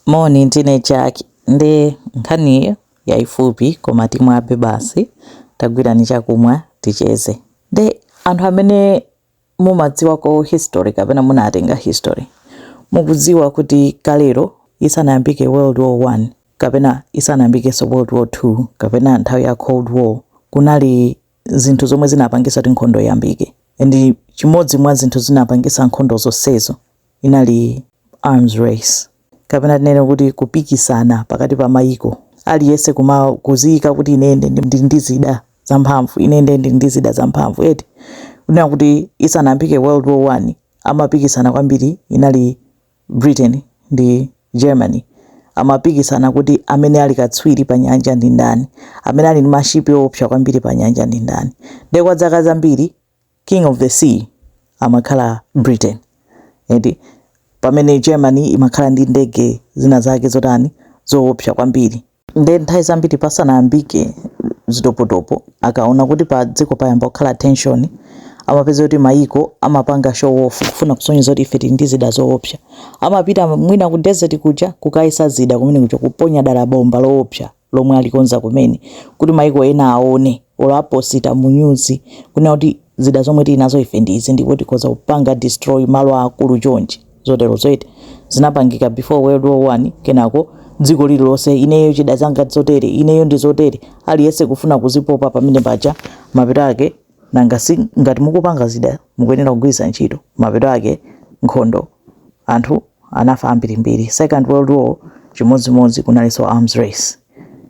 Moni ndine Jack nde nkhani yaifupi koma timwabe basi tagwirani chakumwa ticheze nde anthu amene mumaidziwako history kapena munatenga history mukudziwa kuti kalero isanayambike world war 1 kapena isanayambikenso world war 2 kapena nthawi ya cold war kunali zinthu zomwe zinapangisa kuti nkhondo iyambike ndi chimodzi mwa zinthu zinapangisa nkhondo zonsezo Inali arms race kapena tinene kuti kupikisana pakati pa mayiko. Aliyense kumakuziika kuti ine ndili ndi zida zamphamvu, ine ndiye ndili ndi zida zamphamvu eti. Kunena kuti isanayambike World War One amapikisana kwambiri inali Britain ndi Germany. Amapikisana kuti amene ali katswiri panyanja ndi ndani, amene ali ndi mashipi oopsa kwambiri panyanja ndi ndani. Ndiye kwa zaka zambiri king of the sea amakhala britain eti pamene germany imakhala ndi ndege zina zake zotani zoopsa kwambiri nde nthawi zambiri pasanayambike zitopotopo akaona kuti pa dziko payamba kukhala tension amapeza kuti mayiko amapanga show off kufuna kusonyeza kuti ife tili ndi zida zoopsa amapita mwina ku desert kuja kukayesa zida kumene kuja kuponya dala bomba loopsa lomwe alikonza kumene kuti maiko ena aone olo aposita mu news kunena kuti zida zomwe tili nazo ife ndi izi ndipo tikhoza kupanga destroy malo aakulu chonchi zotero zo eti zinapangika before world war one kenako dziko lililonse ineyo zida zanga zotere ineyo ndi zotere aliyense kufuna kuzipopa pamene paja mapeto ake Nanga si ngati mukupanga zida mukuyenera kugwiritsa ntchito, mapeto ake nkhondo anthu anafa ambirimbiri, second world war chimodzimodzi kunalinso arms race,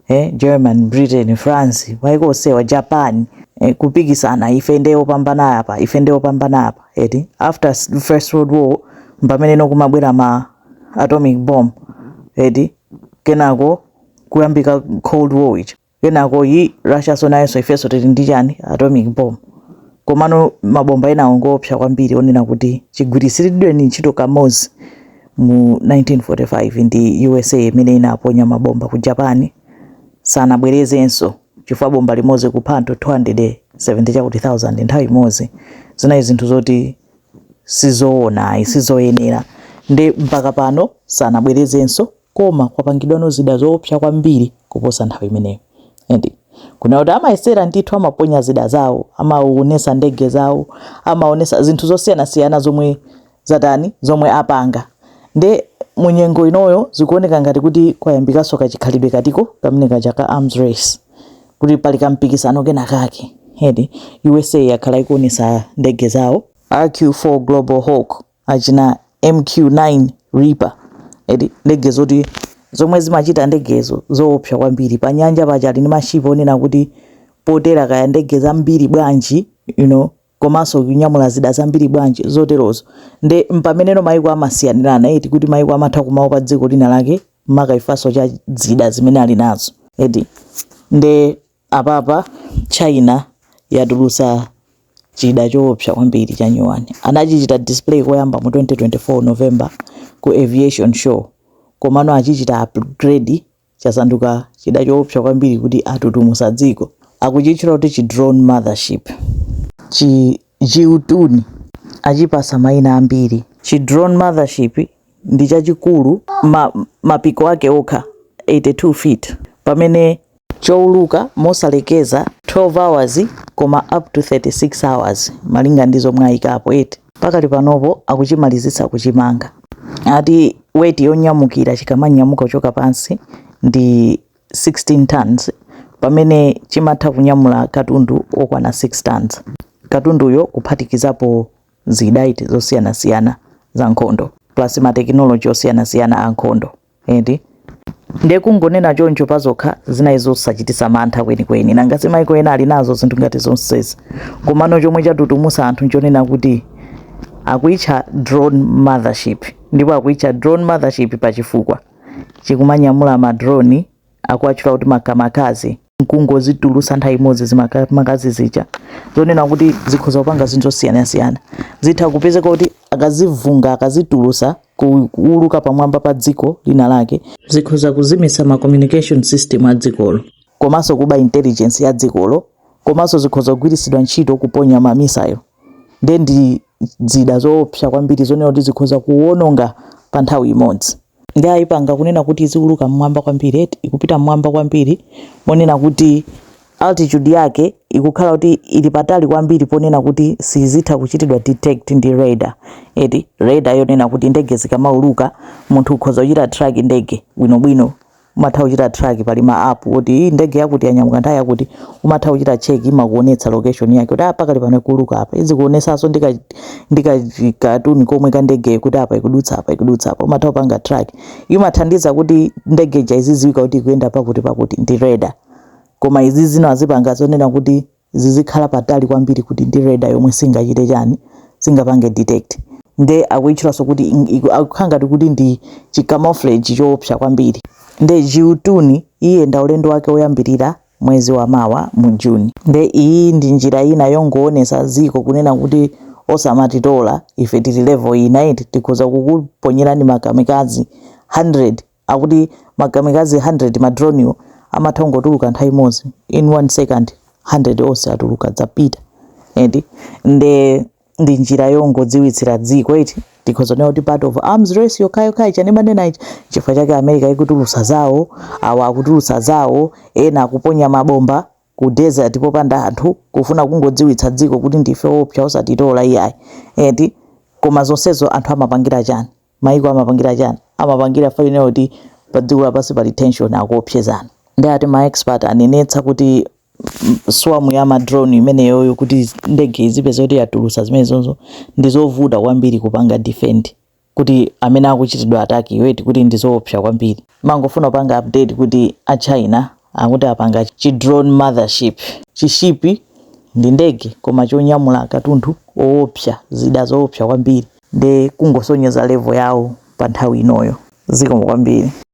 eh German, Britain, France, maiko onsewa, Japan, eh kupikisana ife nde opambana apa, ife nde opambana apa eti, after first world war mpamene no kumabwera ma atomic bomb eti, kenako kuyambika cold war ija. kenako yi russia so nayonso ifenso tili ndi chani atomic bomb komano mabomba enawo ngoopsa kwambiri onena kuti chigwiritsidwireni ntchito kamodzi mu 1945 ndi usa imene inaponya mabomba ku japan sanabwerezenso chifukwa bomba limodzi kupha anthu 270 chakuti 1000 nthawi imodzi zinali zinthu zoti sizoona ayi sizoyenera nde mpaka pano sanabwerezenso koma kwapangidwano zida zoopsa kwambiri kuposa nthawi imeneyo eti kunena kuti amayesera ndithu amaponya zida zawo amaonesa ndege zawo amaonesa zinthu zosiyanasiyana zomwe zatani zomwe apanga nde munyengo inoyo zikuoneka ngati kuti kwayambikaso kachikhalidwe katiko kamene kaja ka arms race kuti pali kampikisano kena kake eti usa yakhala ikuonesa ndege zawo rq4 global hawk achina MQ9 Reaper eti ndege zoti zomwe zimachita ndegezo zoopsa kwambiri pa nyanja pake ali ndi mashipa onena kuti potera kaya ndege zambiri bwanji komanso kunyamula zida zambiri bwanji zoterozo nde mpameneno maiko amasiyanirana eti kuti maiko amatha kumaopa dziko lina lake makaka chifukwa cha zida zimene ali nazo eti nde Apapa China yatulutsa chida choopsa kwambiri cha nyuwani. Anachichita display koyamba mu 2024 November ku Aviation Show komano achichita upgrade chasanduka chida choopsa kwambiri kuti chatutumusa dziko. Akuchitchula kuti chi drone mothership. Chi Jiutian achipasa maina ambiri. Chi drone mothership ndi chachikulu mapiko ake okha 82 feet pamene chouluka mosalekeza 12 hours koma up to 36 hours malinga ndi zomwe ayikapo eti pakali panopo akuchimalizitsa kuchimanga ati weight yonyamukira chikamanyamuka kuchoka pansi ndi 16 tons pamene chimatha kunyamula katundu okwana 6 tons katunduyo kuphatikizapo zida iti zosiyanasiyana za nkhondo plus matekinoloji osiyanasiyana a nkhondo eti nde kungonena choncho pazokha zinali zosachititsa mantha kwenikweni nanga si maiko ena ali nazo zinthu ngati zonsezi komano chomwe chatutumusa anthu nchonena kuti akuitcha drone mothership ndipo akuitcha drone mothership pachifukwa chikumanyamula madroni akuwatchula kuti makamikaze nkungozitulusa nthawi imodzi zimakamikaze zija zonena kuti zikhoza kupanga zinthu zosiyanasiyana zitha kupezeka kuti akazivunga akazitulusa kuuluka pamwamba pa dziko lina lake zikhoza kuzimitsa ma communication system a dzikolo komanso kuba intelligence ya dzikolo komanso zikhoza kugwiritsidwa ntchito kuponya mamisayo ndiye ndi zida zoopsa kwambiri zonena kuti zikhoza kuwononga pa nthawi imodzi nde ayipanga kunena kuti iziuluka mmwamba kwambiri eti ikupita mmwamba kwambiri monena kuti altitude yake ikukhala kuti ili patali kwambiri ponena kuti sizitha kuchitidwa detect ndi radar eti radar yonena kuti ndege zikamauluka munthu ukhoza kuchita track ndege bwinobwino umatha kuchita track pali ma app kuti iyi ndege yakuti yanyamuka nthawi yakuti umatha kuchita check imakuonetsa location yake kuti apa kali pano ikuluka apa izikuonetsanso ndika ndika katuni komwe ka ndegeyo kuti apa ikudutsa apa ikudutsa apa umatha kupanga track imathandiza kuti ndege ija izidziwika kuti ikuyenda pakuti pakuti ndi radar koma izi zino azipanga zonena kuti zizikhala patali kwambiri kuti ndi radar yomwe singachite chani singapange detect nde akuitchulanso kuti ing- iku- akukhala ngati kuti ndi chicamouflage choopsa kwambiri nde jiutuni iyenda ulendo wake woyambirira mwezi wa mawa mu juni nde iyi ndi njira ina yongoonesa dziko kunena kuti osamatitola ife tili level ina eti tikhoza kukuponyerani makamikazi 100 akuti makamikazi 100 ma dronewo amatha kungotuluka nthawi imodzi in one second 100 onse atuluka zapita eti nde ndi njira yongodziwitsira dziko eti tikhoza kunena kuti part of arms race yokhayokhayi chimene ndimanena ichi chifukwa chake america ikutulutsa zawo awa akutulutsa zawo ena akuponya mabomba ku desert popanda anthu kufuna kungodziwitsa dziko kuti ndife oopsa osatitola iyayi eti koma zonsezo anthu amapangira chani Maiko amapangira chani? Amapangira faina kuti pa dziko lapansi pali tension akuopsezana. Nde ati ma expert anenetsa kuti swarm ya ma drone imeneyoyo kuti ndege ikapezeka kuti yatulusa zimenezozo ndizovuta kwambiri kupanga defend kuti amene akuchitidwa attack yo eti kuti ndizoopsa kwambiri. Ndimangofuna kupanga update kuti a China akuti apanga chi drone mothership. Chi ship ndi ndege koma chonyamula katundu oopsa, zida zoopsa kwambiri. nde kungosonyeza level yawo pa nthawi inoyo zikomo kwambiri.